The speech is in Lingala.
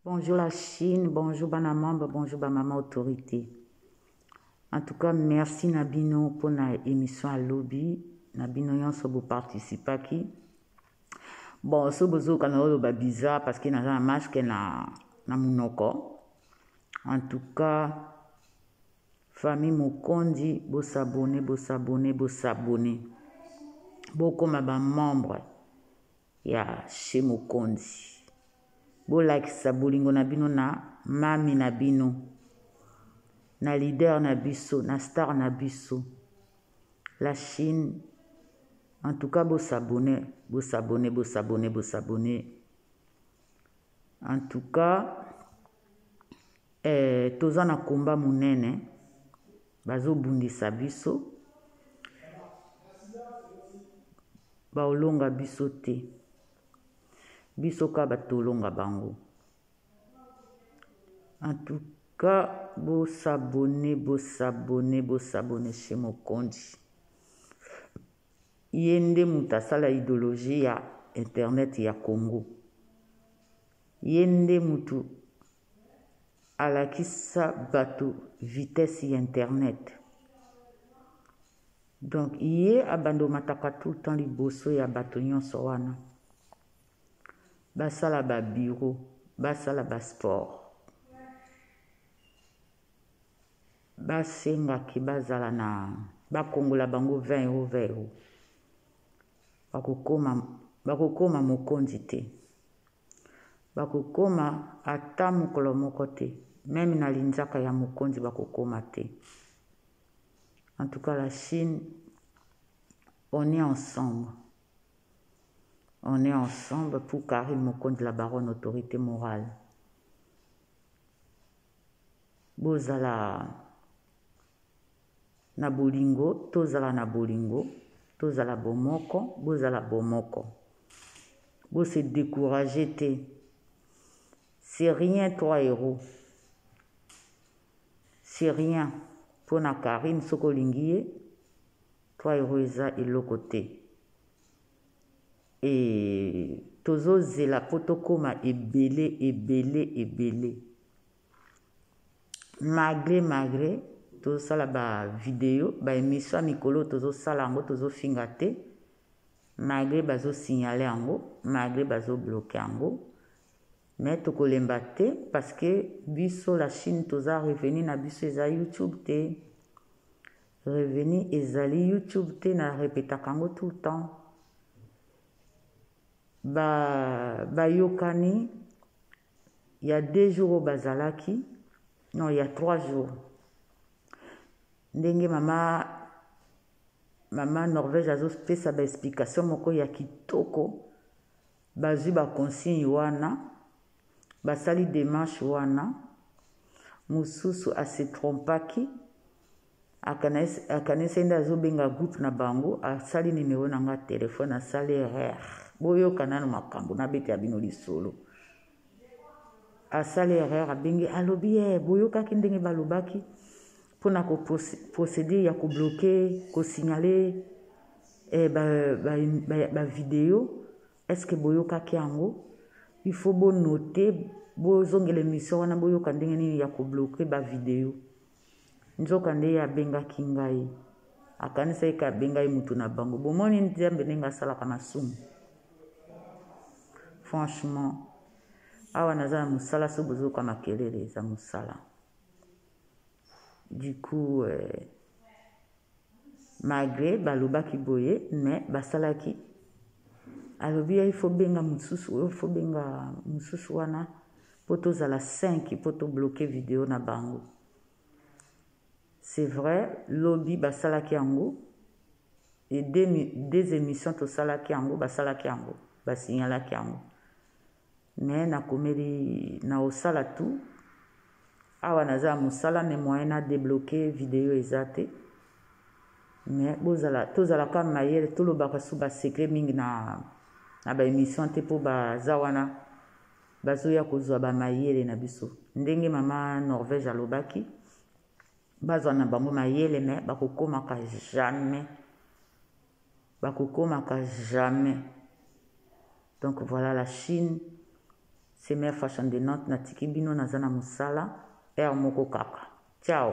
Bonjour la Chine, bonjour bana membre, bonjour ba mama autorité. En tout cas, merci na bino mpo na émission ya lobi na bino nyonso boparticipaki. Bon, so bozoka na oloba bizarre parce que naza na masque na, na monoko. En tout cas, famille Mokondi, bosabone, bosabone, bosabone. Bokoma ba membre. ya chez mokonzi bolakisa bolingo na bino na mamy na bino na leader na biso na star na biso la chine en tout cas bosabone bosabone bosabone bosabone en tout cas eh, toza na komba monene Bazo bundisa biso baolonga biso te biso ka ba tolonga bango en tout cas bo s'abonner bo s'abonner bo s'abonner chez mokonzi ye nde moto asala idéologie ya internet ya congo ye nde moto alakisa batu vitesse ya internet donc ye abanda omataka tout le temps liboso ya batu nyonso wana basala ba bureau basala ba sport basengaki bazala na bakongola bango 20 euro 20 euro Bakokoma, bakokoma mokonzi te. Bakokoma ata mokolo moko te. Meme na linzaka ya mokonzi bakokoma te. En tout cas, la Chine, on est ensemble. On est ensemble pour Karine Mokonzi, la baronne autorité morale. Bozala Na bolingo, tozala na bolingo, tozala bomoko, bozala bomoko. Bo se decourager te. C'est rien trois euros. C'est rien mpo na Carine soki olingi ye trois euros eza eloko te. Et tozozela mpo tokoma ebele ebele ebele. malgre malgre tozosala ba video ba emission ya mikolo oyo tozosala yango tozofinga te malgre bazosignale yango malgre bazobloke yango mais tokolemba te parce que biso la chine toza revenu na biso eza youtube te revenu ezali youtube te na repetaka yango tout le temps ba bayokani ya deux jours oyo bazalaki non ya trois jours ndenge mama mama norvège azopesa baexplication moko ya kitoko bazwi baconsigne wana basali demarche wana mosusu asetrompaki Akanisi nde azo benga groupe na bango asali numero na nga telephone asali erreur boyoka nanu makambo nabetela bino lisolo asali erreur abengi alobi e eh, boyokaki ndenge balobaki mpona ko procédure ya kobloke kosignale eh, bavideo ba, ba, ba estce boyokaki yango il faut bonote bozongela emission wana boyoka ndenge nini ya kobloke bavideo Nzokande ye abengaki ngai. Akanisaki ke abengai mutu na bango. Bomoni Nzambe ndenge asalaka masumu? Franchement. Awa naza na musala soki bozoyoka makelele eza musala. Du coup, euh, Malgre balobaki boye mais basalaki alobi il faut benga mususu il faut benga mususu wana po tozala 5 po to bloquer video na bango c'est vrai lobi basalaki yango et deux, deux émissions tosalaki yango basalaki yango basignalaki yango mais na komeli na osala tout awa naza ya mosala mais moyen na debloque video eza te mais bozala tozalaka mayele tolobaka su basecret mingi na na baémission te mpo baza wana bazoya kozwa bamayele na biso ndenge mama norvège alobaki bazwa na bango mayele me bakokomaka jamais Bakokomaka jamais. Donc voilà la Chine c'est mère fashion de Nantes natiki bino naza na musala heure moko kaka. Ciao.